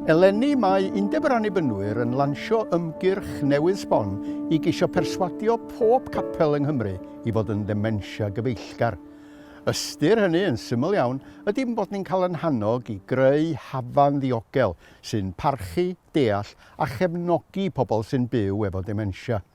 Eleni mae Undeb yr Annibynwyr yn lansio ymgyrch newydd sbon i geisio perswadio pob capel yng Nghymru i fod yn ddementia gyfeillgar. Ystyr hynny, yn syml iawn, ydy bod ni'n cael yn hannog i greu hafan ddiogel sy'n parchu, deall a chefnogi pobl sy'n byw efo dementia.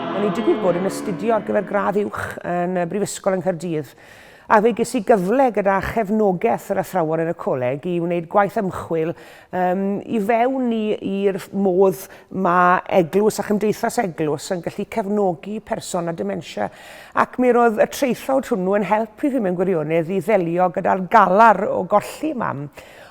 O'n i'n digwydd bod yn astudio ar gyfer gradd uwch yn y Brifysgol yng Nghaerdydd, a fe ges i gyfle gyda chefnogaeth yr athrawon yn y coleg i wneud gwaith ymchwil um, i fewn i'r modd mae eglwys a chymdeithas eglwys yn gallu cefnogi person â dementia. Ac mi roedd y traethawd hwnnw yn help i fi mewn gwirionedd i ddelio gyda'r galar o golli mam.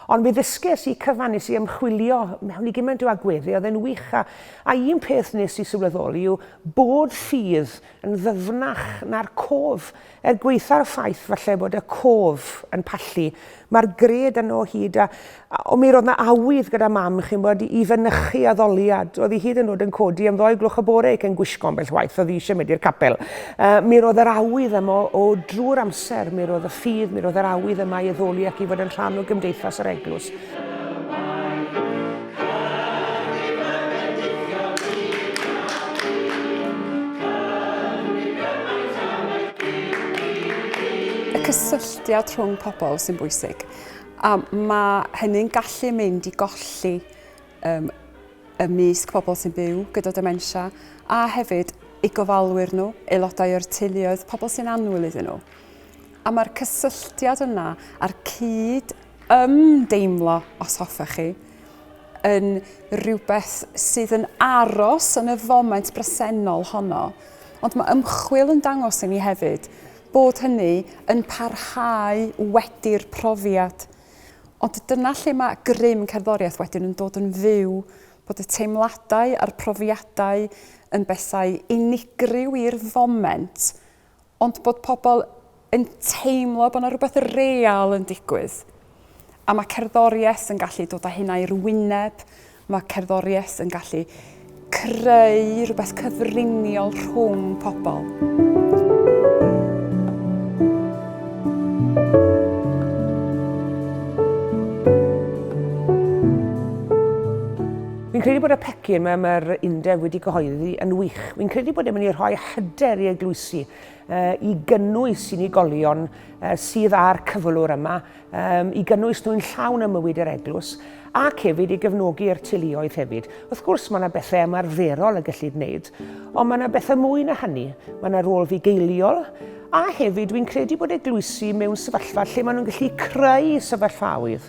Ond mi ddysges i cyfan nes i ymchwilio mewn i gymaint o agweddau, oedd e'n wych a A un peth wnes i sylweddoli yw bod ffydd yn ddyfnach na'r cof. Er gwaetha'r ffaith falle bod y cof yn pallu, mae'r gred yno o hyd a, o mi roedd 'na awydd gyda Mam, chi'n gwybod, i fynychu addoliad. Oedd hi hyd yn o'd yn codi am ddoi gloch y bore cyn gwisgo ambell waith oedd hi eisiau mynd i'r capel. Yy, mi roedd yr awydd yma o drwy'r amser, mi roedd y ffydd, mi roedd yr awydd yma i addoli ac i fod yn rhan o gymdeithas yr Eglwys. cysylltiad rhwng pobl sy'n bwysig. A mae hynny'n gallu mynd i golli um, y mysg pobl sy'n byw gyda dementia, a hefyd i gofalwyr nhw, aelodau o'r teuluoedd, pobl sy'n annwyl iddyn nhw. A mae'r cysylltiad yna a'r cyd ymdeimlo, os hoffech chi, yn rhywbeth sydd yn aros yn y foment bresennol honno. Ond mae ymchwil yn dangos i ni hefyd bod hynny yn parhau wedi'r profiad. Ond dyna lle mae grym cerddoriaeth wedyn yn dod yn fyw, bod y teimladau a'r profiadau yn bethau unigryw i'r foment, ond bod pobl yn teimlo bod yna rhywbeth real yn digwydd. A mae cerddoriaeth yn gallu dod â hynna i'r wyneb, mae cerddoriaeth yn gallu creu rhywbeth cyfriniol rhwng pobl. Fi'n credu bod y pecyn mae mae'r undeb wedi cyhoeddi yn wych. Fi'n credu bod e'n mynd i rhoi hyder i eglwysi i gynnwys unigolion sydd â'r cyflwr yma, i gynnwys nhw'n llawn ym mywyd yr eglwys, ac hefyd i gefnogi'r teuluoedd hefyd. Wrth gwrs, mae yna bethau ymarferol y gellid wneud, ond mae yna bethau mwy na hynny. Mae yna rôl fugeiliol, a hefyd dwi'n credu bod eglwysi mewn sefyllfa lle maen nhw'n gallu creu sefyllfaoedd